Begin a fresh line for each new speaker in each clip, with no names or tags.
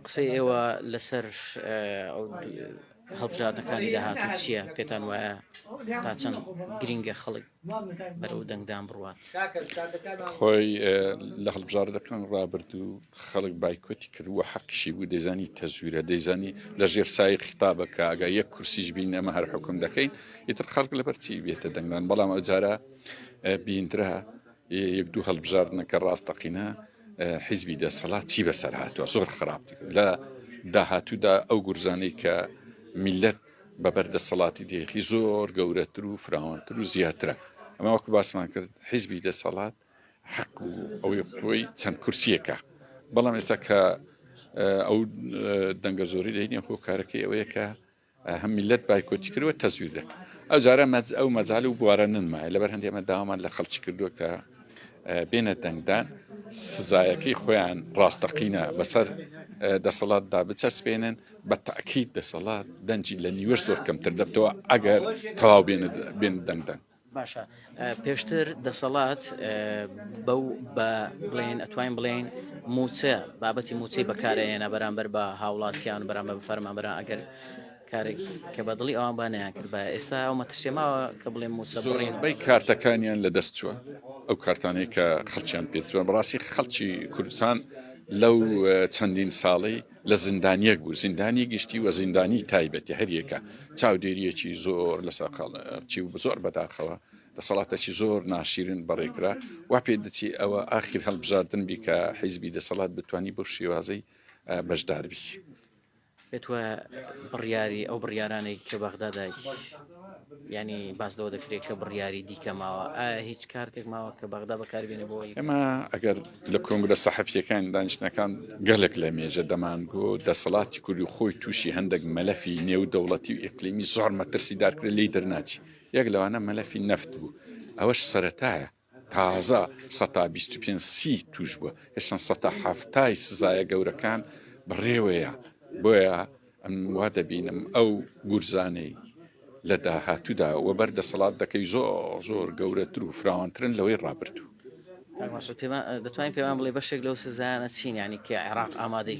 قسەی ئێوە لەسەر هەڵبژاردنەکانی داهاتوو چییە پێتان وایە تا چەند گرینگە خەڵک بەرەو دەنگدان بڕوان خۆی
لە هەڵبژاردەکان ڕابردوو خەڵک بایکۆتی کردووە حەقیشی بوو دەزانی تەزویرە دەیزانی لە ژێر سای خطابەکە ئەگە یەک کورسیش بین ئەمە هەر حکم دەکەین ئیتر خەڵک لەبەرچی بێتە دەنگدان بەڵام ئەجارە بیندرا یەک دوو هەڵبژاردنەکە ڕاستەقینە حیزبی دەسەڵات چی بەسەر هاتووە زۆر خراپ لە داهاتوودا ئەو گورزانەی کە میلەت بە بەردەسەڵاتی دێخی زۆر گەورەتر و فراوانتر و زیاترە ئەمە وەکو باسمان کرد حیزبی دەسەڵات حەق و ئەوەی خۆی چەند کورسیەکە بەڵام ئێستا کە ئەو دەنگە زۆری لە هینە هۆکارەکەی ئەوەیە کە هەم میللەت بایکۆتی کرد و تەزویر دەکرد ئەو جارە مەز ئەو مەزال و بوارە ننمایە لەبەر هەندی ئەمە داوامان لە خەڵکی کردووە کە بێنە دەنگدان سزایەکەی خۆیان ڕاستەقینە بەسەر دەسەڵاتدا بچەسپێنن بە تاکیید دەسەڵات دەنجی لە نیوەش زۆر کەمتر دەبتەوە ئەگەر تەواو بێن دەنگدەنگ باشە
پێشتر دەسەڵات بەو بە بڵێن ئەتوانین بڵێن موچە بابەتی موچەی بەکارێنە بەرامبەر بە هاوڵاتیان بەرامە بفەرمە بەرا ئەگەر کارێک کە بە دڵی ئەوان بانیان کرد بە ئێستا ئەو مەترسێماوە کە بڵێ موسەڕین بەی کارتەکانیان
لە دەست چووە ئەو کارتانەی کە خەڵکیان پێتوە بەڕاستی خەڵکی کوردستان لەو چەندین ساڵی لە زیندانیەک بوو زیندانی گشتی و زیندانی تایبەتی هەریەکە چاودێریەکی زۆر لە سەرقاڵچی و زۆر بەداخەوە دەسەڵاتەکی زۆر ناشیرن بەڕێکرا وا پێ دەچی ئەوە ئاخیر هەڵبژاردن بی کە حیزبی دەسەڵات بتانی بۆ شێوازەی بەشداربی.
پێت وایە بڕیاری ئەو بڕیارانەی کە بەغدادا یانی باس لەوە دەکرێت کە بڕیاری دیکە ماوە ئایا هیچ کارتێک ماوە کە بەغدا بەکاربیێنە بۆ ئێمە ئەگەر
لە کۆنگرە سەحەفیەکان دانیشتەکان گەلک لە مێژە دەمانگۆ دەسەڵاتی کوردی خۆی تووشی هەندێک مەلەفی نێو دەوڵەتی و ئیقلیمی زۆر مەترسی دارکرێت لی دەرناچی یەک لەوانە مەلەفی نەفت بوو ئەوەش سەتایە تازە سەتا بیست و پێنج سی تووش بووە هێشتان سەتا حەفتای سزایە گەورەکان بەڕێوەیە بۆیە ئەم وا دەبینم ئەو گورزانەی لە داهاتوودا و بەر دەسەڵات دەکەی زۆر زۆر گەورەتر و فراوانترن لەوەی ڕابردوو دەتوانین
پێمان بڵێ بەشێک لەو سزانە چین ینی کە عێراق ئامادەی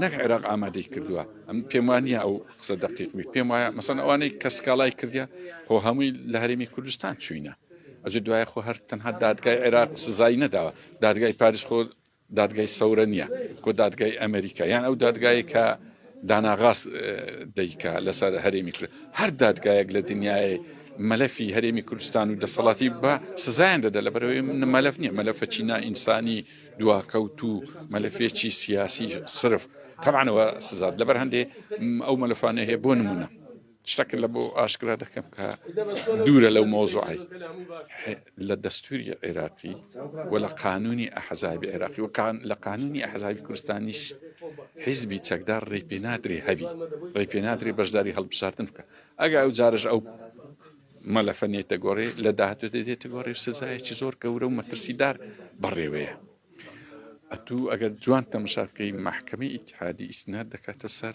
نەک عێراق ئامادەی
کردووە ئەم پێم وانە ئەو قسە دەقیقمی پێم وایە مەسەن ئەوانەی کە سکاڵای کردیا خۆ هەمووی لە هەرێمی کوردستان چوینە ئەجە دوایە خۆ هەر تەنها دادگای عێراق سزای نەداوە دادگای پاریس خۆ دادگای سەورە نییە کۆ دادگای ئەمریکا یان ئەو دادگای کە داناغاست دەیکا لەسەر هەرێمی کرد هەر دادگایەک لە دنیای مەلەفی هەرێمی کوردستان و دەسەڵاتی بە سزایان دەدا لە بەرەوەی مەلەف نیە مەلەفە چینا ئینسانی دواکەوت و مەلەفێکی سیاسی صرف تەمانەوە سزاد لەبەر هەندێ ئەو مەلفانە هەیە بۆ نمونە شتەکە لە بۆ ئاشکرا دەکەم کە دوورە لەو مۆزوعی لە دەستوری عێراقی و لە قانونی ئەحزابی عێراقی و لە قانونی ئەحزابی کوردستانیش حیزبی چەکدار ڕێ پێ نادرێ هەبی ڕێ پێ نادرێ بەشداری هەڵبساردن بکە ئەگە ئەو جارش ئەو مەلەفە نێتە گۆڕێ لە داهاتوێت دێتە گۆڕێ و سزایەکی زۆر گەورە و مەترسیدار بەڕێوەیە ئەتوو ئەگەر جوان تەمەشا بکەی محکمەی ئیتحادی ئیسنات دەکاتە سەر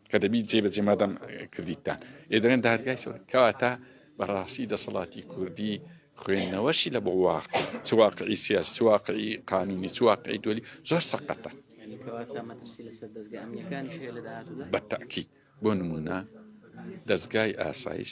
کە دەبیت جێ بەجێ مادەم کردیتتان ئێ دەێن دادگای سەر کەواتە بەڕاستی دەسەڵاتی کوردی خوێندنەوەشی لە بۆ واق چواقعی سیاس چواقعی قانونی چواقعی دولی زۆر سەقەتە بەتاکی بۆ نمونە دەستگای ئاسایش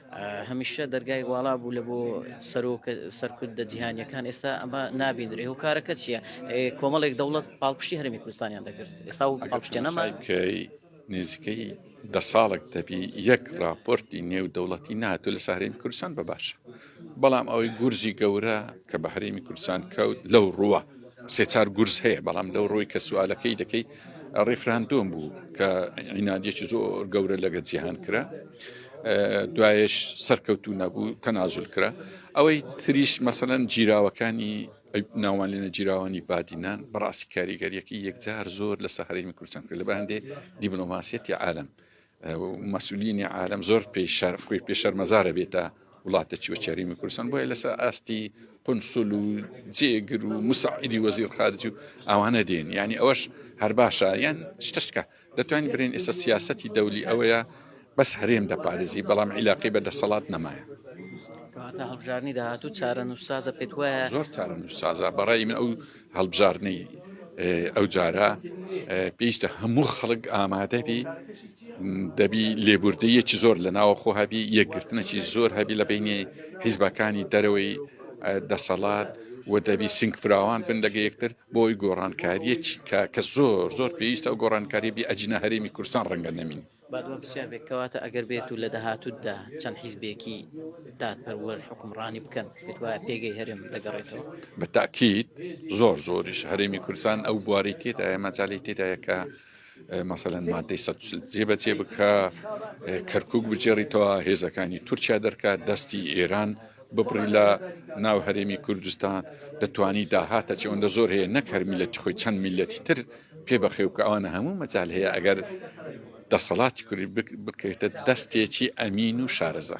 هەمیشە دەرگای واڵا بوو لە بۆ سەرۆک سەرکردە جیهانیەکان ئێستا ئەمە نابیندرێ و کارەکە چییە کۆمەڵێک دەوڵەت پاڵپشتی هەرمی کوردستانیان دەکرد ئێستا و پاڵپشتێنەما نزیکەی
دە ساڵک دەبی یەک راپۆرتی نێو دەوڵەتی ناتو لە سارێمی کوردستان بە باشە بەڵام ئەوەی گورزی گەورە کە بە هەرێمی کوردستان کەوت لەو ڕووە سێچار گورز هەیە بەڵام لەو ڕووی کە سوالەکەی دەکەیت ڕیفراندۆم بوو کە عینادیەکی زۆر گەورە لەگە جیهان کرا دوایش سەرکەوتو نەبوو تەنازل کرا ئەوەی تریش مەسەەن جیراوەکانی ناوان لێنە جیراوانی بادینان بەڕاستی کاریگەریەکە یەکجار زۆر لە سەحرەی کوردستان کرد لە بەندێ دیبلۆماسیەتی عالم مەسولینی عالم زۆر پێی شەر خۆی پێ شەرمەزارە بێتە وڵاتە چوە چێریمی کوردستان بۆیە لەسەر ئاستی قنسل و جێگر و مساعیدی وەزیر خارج و ئەوانە دێن ینی ئەوەش هەر باشە یان شتشکە دەتوانین برێن ئێستا سیاستی دەولی ئەوەیە بەس هەرێم دەپارێزی بەڵام عیلاقی بە دەسەڵات نەمایە هەڵبژارنی
داهاتوو چارە نووسازە
پێت وایە زۆر چارە نووسازە بەڕای من ئەو هەڵبژاردنەی ئەو جارە پێیشتە هەموو خەڵک ئامادەبی دەبی لێبوردەیەکی زۆر لە ناوەخۆ هەبی یەکگرتنەکی زۆر هەبی لە بینی حیزبەکانی دەرەوەی دەسەڵات و دەبی سنگ فراوان بن لەگە یەکتر بۆی گۆڕانکاریەکی کە کە زۆر زۆر پێویستە و گۆڕانکاری بی ئەجینە هەرێمی کورسان ڕەنگە نەمین با دوام پرسیار بێت
کەواتە ئەگەر بێت و لە داهاتوودا چەند حیزبێکی دادپەروەر حکومڕانی بکەن بێت وایە پێگەی هەرێم
دەگەڕێتەوە بە تاکیت زۆر زۆریش هەرێمی کوردستان ئەو بواری تێدایە مەجای تێدایەکە مەسەەن مادەی سە جێ بەجێ بکە کەرکک بجێڕیتەوە هێزەکانی تورکیا دەرکات دەستی ئێران ببڕی لە ناو هەرێمی کوردستان دەتوانی داهاتە چەوەندە زۆر هەیە نەکەر میلەتی خۆی چەند میلەتی تر پێ بەخێو کە ئەوانە هەموو مەجال هەیە ئەگەر دەسەڵاتی کوردی بکەیتە دەستێکی ئەمین و شارەزا